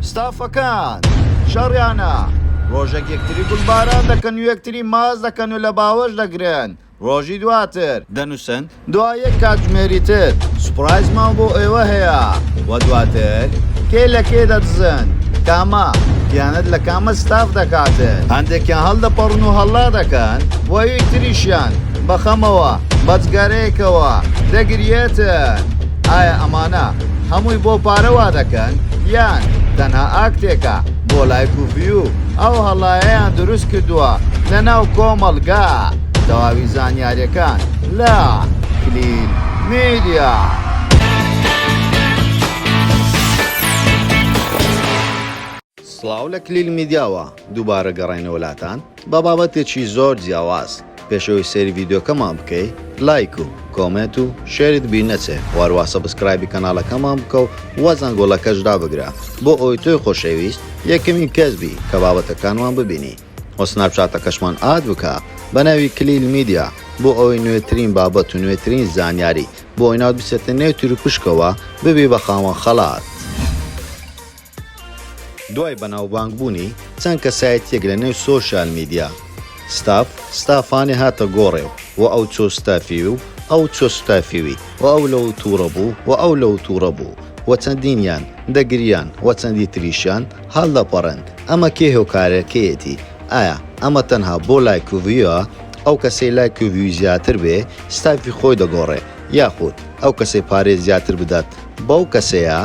ستافەکان شەڕیانە، ڕۆژێک یەکتری گوڵباران دەکەن و یەکتری ماچ دەکەن و لە باوەش دەگرن، ڕۆژی دواتر. دەنووسن، دوای یەک کاتژمێری تر سوپرایزمان بۆ ئێوە هەیە. وە دواتر کێ لە کێ دەدزن، کامە خیانەت لە کامە ستاف دەکاتن. هەندێکیان هەڵدەپەڕن و هەڵا دەکەن و یەک تریشیان بە خەمەوە بە جگەرەیەکەوە دەگریێتن. ئایا ئەمانە هەمووی بۆ پارە وا دەکەن یان تەنها ئاکتێکە بۆ لایک و ڤیو ئەو هەڵایەیان دروست کردووە لە ناو کۆمەڵگا تەواوی زانیاریەکان لە کلیل میدیا. سڵاو لە کلیل میدیاوە دووبارە گەڕاینەوە لاتان بە بابەتێکی زۆر جیاواز پێش ئەوەی سەیری ڤیدیۆکەمان بکەی لایک و کۆمێنت و شێرت بیر نەچێ واروا سەبسکرایبی کەناڵەکەمان بکە و وە زەنگۆڵەکەش دابگرە بۆ ئەوەی تۆی خۆشەویست یەکەمین کەس بی کە بابەتەکانمان ببینی وە سناپچاتەکەشمان ئاد بکە بە ناوی کلیل میدیا بۆ ئەوەی نوێترین بابەت و نوێترین زانیاری بۆ ئەوی ناوت بچێتە نێو تیروپشکەوە ببی بە خاوەن خەڵات. دوای بەناوبانگ بوونی چەند کەسایەتیەک لە نێو سۆشیال میدیا ستاف ستافانی هاتە گۆڕێ و وە ئەو چۆ ستافیوی و ئەو چۆ ستافیوی و ئەو لەو توڕە بوو و ئەو لەو توڕە بوو و چەندینیان دەگریان و چەندی تریشیان هەڵدەپەڕێن ئەمە کێ هۆکارەکەیەتی ئایا ئەمە تەنها بۆ لایک و ڤیوە ئەو کەسەی لایک و ڤیوی زیاتر بێ ستافی خۆی دەگۆڕێ یاخود ئەو کەسەی پارەی زیاتر بدات بەو کەسەیە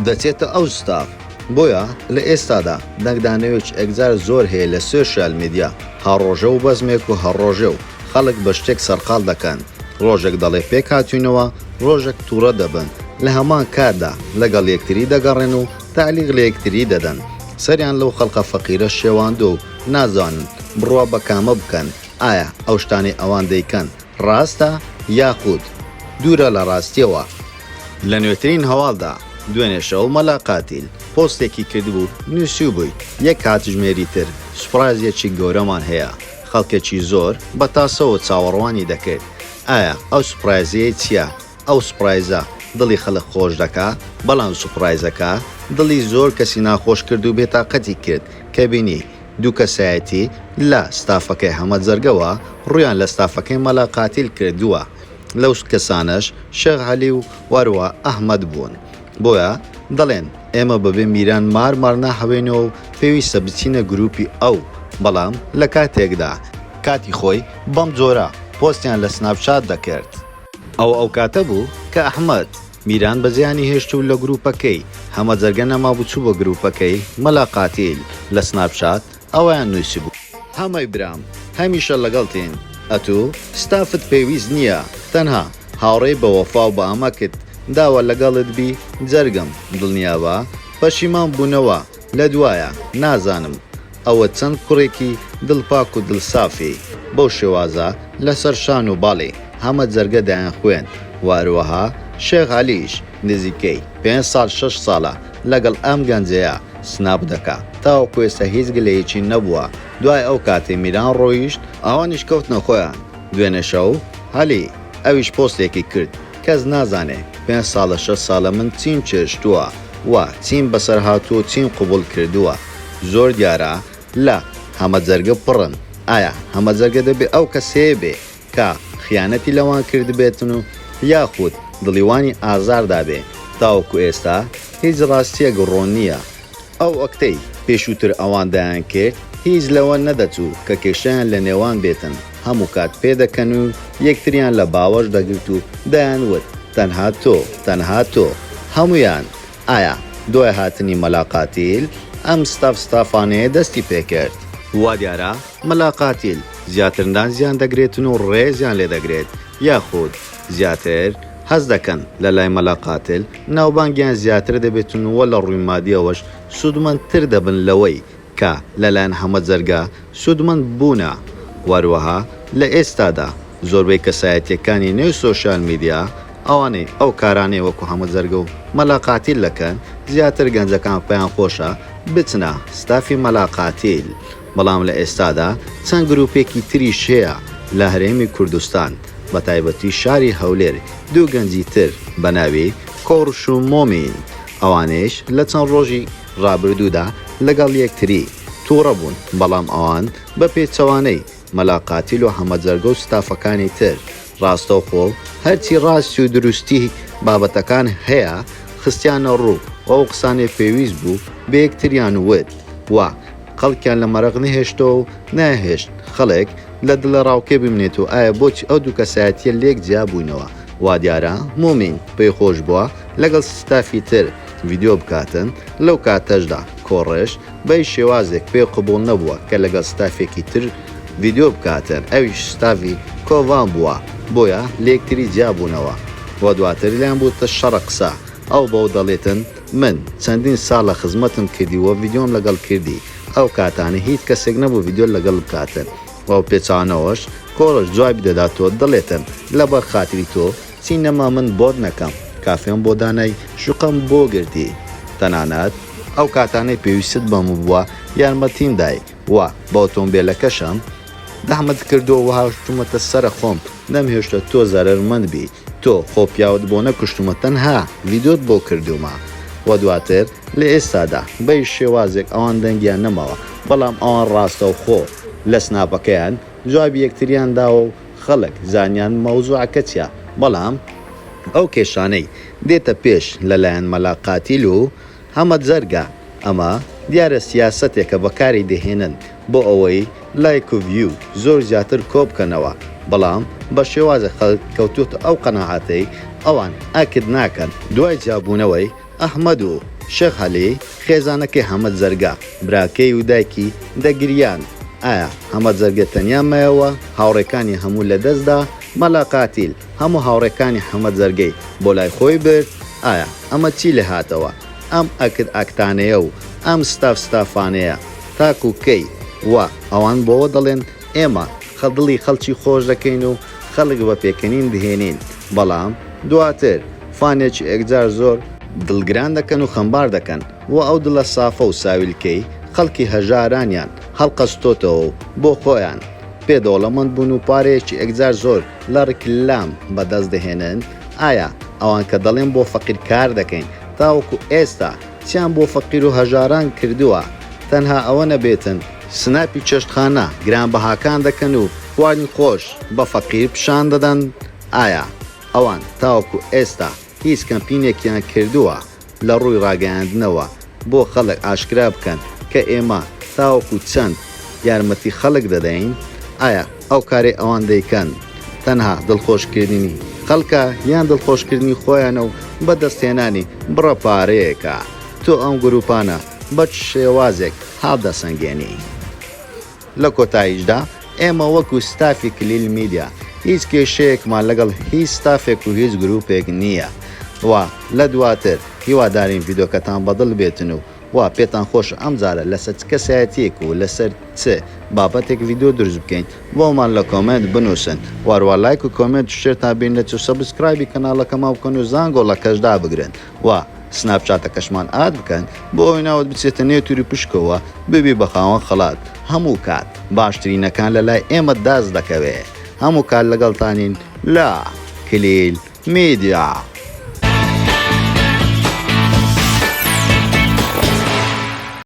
دەچێتە ئەو ستاف بۆیە لە ئێستادا دەنگدانەوێکی ئەگجار زۆر هەیە لە سۆشیال میدیا هەر ڕۆژە و بەزمێک و هەر ڕۆژێ و خەڵک بە شتێک سەرقاڵ دەکەن ڕۆژێک دەڵێ پێک هاتوینەوە ڕۆژێک توڕە دەبن لە هەمان کاتدا لەگەڵ یەکتری دەگەڕێن و تەعلیق لە یەکتری دەدەن سەریان لەو خەڵقە فەقیرە شێواندوە و نازانن بڕوا بە کامە بکەن ئایا ئەو شتانەی ئەوان دەیکەن ڕاستە یاخود دوورە لە ڕاستیەوە؟ لە نوێترین هەواڵدا دوێنێ شەو مەلا قاتیل پۆستێکی کردبوو نوسیوبوی یەک کاتژمێری تر سوپڕایزێکی گەورەمان هەیە خەڵکێکی زۆر بە تاسەوە چاوەڕوانی دەکرد ئایا ئەو سوپڕایزەیە چیە ئەو سوپڕایزە دڵی خەڵک خۆش دەکا بەڵام سوپڕایزەکە دڵی زۆر کەسی ناخۆش کرد و بێتاقەتی کرد کە بینی دوو کەسایەتی لە ستافەکەی حەمە جەرگەوە ڕوویان لە ستافەکەی مەلا قاتیل کردووە، لەو کەسانەش شێخ عەلی و وەروا ئەحمەد بوون، بۆیە دەڵێن ئێمە بەبێ میران مار مار ناحەوێنەوە و پێویستە بچینە گرووپی ئەو، بەڵام لە کاتێکدا. کاتی خۆی بەم جۆرە پۆستیان لە سناپ چات دەکرد. ئەوە ئەو کاتە بوو کە ئەحمەد. میران بە زیانی هێشتوو لە گرووپەکەی، هەمە جەرگە نەمابوو چوو بۆ گرووپەکەی، مەلا قاتیل، لە سناپ چات، ئەوەیان نووسیبوو. هەمەی برام هەمیشە لەگەڵتین ئەتوو ستافت پێویست نییە تەنها هاوڕێی بە وەفا و بە ئەمەکت داوە لەگەڵت بی جەرگم دڵنیابە پەشیمان بوونەوە لە دوایە نازانم ئەوە چەند کوڕێکی دڵ پاک و دڵ سافی بەو شێوازە لەسەر شان و باڵی هەمە جەرگە دەیانخوێند و هەروەها شێخ عەلیش نزیکەی پێنج ساڵ شەش ساڵە لەگەڵ ئەم گەنجەیە سناپ دەکا تاوەکو ئێستا هیچ گلەیەکی نەبووە دوای ئەو کاتەی میران ڕۆیشت ئەوانیش کەوتنە خۆیان دوێنێ شەو عەلی ئەویش پۆستێکی کرد کەس نازانێ پێنج ساڵە شەش ساڵە من چیم چێشتووە و چیم بەسەر هاتووە و چیم قبوڵ کردووە. زۆر دیارە لە هەمە جەرگە پڕن ئایا هەمە جەرگە دەبێ ئەو کەسەیە بێ کە خیانەتی لەوان کردبێتن و یاخود دڵی وانی ئازار دابێ تاوەکو ئێستا هیچ ڕاستیەک ڕوون نیە ئەو ئەکتەی پێشوتر ئەوان دەیان کرد هیچ لەوە نەدەچوو کە کێشەیان لە نێوان بێتن هەموو کات پێ دەکەن و یەکتریان لە باوەش دەگرت و دەیان وت تەنها تۆ تەنها تۆ هەموویان ئایا دوای هاتنی مەلا قاتیل ئەم ستاف ستافانەیە دەستی پێکرد؟ وا دیارە مەلا قاتیل زیاتر نازیان دەگرێتن و ڕێزیان لێ دەگرێت یاخود زیاتر هەست دەکەن لە لای مەلا قاتل ناوبانگیان زیاتر دەبێتن و لە ڕووی مادیەوەش سوودمەندتر دەبن لەوەی کە لەلایەن هەمە جەرگە سوودمەند بوونە و هەروەها لە ئێستادا زۆربەی کەسایەتییەکانی نێو سۆشیال میدیا ئەوانەی ئەو کارانەی وەکو هەمە جەرگە و مەلا قاتیل دەکەن زیاتر گەنجەکان پێیان خۆشە بچنە ستافی مەلا قاتیل بەڵام لە ئێستادا چەند گروپێکی تریش هەیە لە هەرێمی کوردستان بە تایبەتی شاری هەولێر دوو گەنجی تر بە ناوی کۆڕش و مۆمین ئەوانەیش لە چەند ڕۆژی ڕابردوودا لەگەڵ یەکتری تووڕە بوون، بەڵام ئەوان بە پێچەوانەی، مەلا قاتیل و حەمە جەرگە و ستافەکانی تر، ڕاستەوخۆ و هەرچی ڕاستی و دروستی بابەتەکان هەیە خستیانە ڕوو و ئەو قسانەی پێویست بوو بە یەکتریان وت و خەڵکیان لە مەرەق نەهێشتەوە و نایهێشت خەڵک لە دڵەڕاوکێ بمێنێت و ئایا بۆچی ئەو دوو کەسایەتییە لێک جیا بوونەوە؟ وادیارە مومین پێی خۆش بووە لەگەڵ ستافی تر ڤیدیۆ بکاتن، لەو کاتەشدا کۆڕش بەی شێوازێک پێ قبوڵ نەبووە کە لەگەڵ ستافێکی تر ڤیدیۆ بکاتن ئەویش ستافی کۆڤان بووە بۆیە لێکتری جیا بوونەوە و دواتر لێیان بووتە شەڕە قسە ئەو بەو دەڵێتن من چەندین ساڵە خزمەتم کردی و ڤیدیۆم لەگەڵ کردی ئەو کاتانە هیچ کەسێک نەبوو ڤیدیۆ لەگەڵ بکاتن و پێچانەوەش کۆڕش جوابی دەدات و دەڵێتن لەبەر خاتری تۆ چی نەما من بۆت نەکەم. کافێم بۆ دانای، شوقەم بۆ گرتی. تەنانەت ئەو کاتانەی پێویستت بەم بووە یارمەتیم دای و بە ئۆتۆمبێلەکەشم زەحمەتت کردووە و هاوشتومەتە سەر خۆم نەمهێشتووە تۆ زەرەرمەند بی تۆ خۆ پیاوت بۆ نەکوشتوومە تەنها ڤیدۆت بۆ کردوومە و دواتر لە ئێستادا بە هیچ شێوازێک ئەوان دەنگیان نەماوە بەڵام ئەوان ڕاستەوخۆ لە سناپەکەیان جوابی یەکتریان داوە و خەڵک زانیان مەوزوعەکە چیە بەڵام ئەو کێشانەی دێتە پێش لەلایەن مەلا قاتیل و حەمە جەرگە ئەمە دیارە سیاسەتێکە بەکاری دەهێنن بۆ ئەوەی لایک و ڤیو زۆر زیاتر کۆبکەنەوە بەڵام بە شێوازێک خەڵک کەوتۆتە ئەو قەناعەتەی ئەوان ئەکت ناکەن دوای جیابوونەوەی ئەحمەد و شێخ عەلی خێزانەکەی حەمەد زەرگە، براکەی و دایکی دەگریان، ئایا حەمەد زەرگە تەنیا مایەوە، هاوڕێکانی هەموو لەدەستدا، مەلا قاتیل هەموو هاوڕێکانی حەمەد زەرگەی بۆ لای خۆی برد، ئایا ئەمە چی لێهاتەوە، ئەم ئەکت ئەکتانەیە و ئەم ستاف ستافانەیە تاکو کەی و ئەوان بۆوە دەڵێن ئێمە دڵی خەڵکی خۆش دەکەین و خەڵک بە پێکەنین دهێنین بەڵام دواتر فانێکی ئێکجار زۆر دڵگران دەکەن و خەمبار دەکەن و ئەو دڵە سافە و ساویلکەی خەڵکی هەژارانیان هەڵقەستۆتەوە و بۆ خۆیان پێ دەوڵەمەند بوون و پارەیەکی ئێکجار زۆر لە ڕیکلام بە دەست دەهێنن ئایا ئەوان کە دەڵێن بۆ فەقیر کار دەکەین تاوەکو ئێستا کچیان بۆ فەقیرو هەژاران کردووە تەنها ئەوە نەبێتن سناپی چێشتخانە گرانبەهاکان دەکەن و وانی خۆش بە فەقیر پیشان دەدەن ئایا ئەوان تاوەکو ئێستا هیچ کەمپینێکیان کردووە لە ڕووی ڕاگەیاندنەوە بۆ خەڵک ئاشکرا بکەن کە ئێمە تاوەکو چەند یارمەتی خەڵک دەدەین ئایا ئەو کارەی ئەوان دەیکەن تەنها دڵخۆشکردنی خەڵکە یان دڵخۆشکردنی خۆیانە و بەدەستهێنانی بڕە پارەیەکە، تۆ ئەم گروپانە بە چ شێوازێک هەڵدەسەنگێنی؟ لە کۆتاییشدا ئێمە وەکو ستافی کلیل میدیا هیچ کێشەیەکمان لەگەڵ هیچ ستافێک و هیچ گروپێک نییە و لە دواتر هیوادارین ڤیدۆکەتان بەدڵ بێتن و وا پێتان خۆشە ئەمجارە لەسەر چ کەسایەتیەک و لەسەر چ بابەتێک ڤیدیۆ دروست بکەین بۆمان لە کۆمێنت بنوسن واروا لایک و کۆمێنت و شێرتان بیر نەچێ و سەبسکرایبی کەناڵەکەمان بکەن و زانگۆڵەکەش دابگرن و سناپ چاتەکەشمان ئاد بکەن بۆ ئەوەی ناوت بچێتە نێو توری پشکەوە ببی بە خاوەن خەڵات هەموو کات باشترینەکان لەلای ئێمە دەست دەکەوێ هەموو کات لەگەڵتانین لە کلیل میدیا.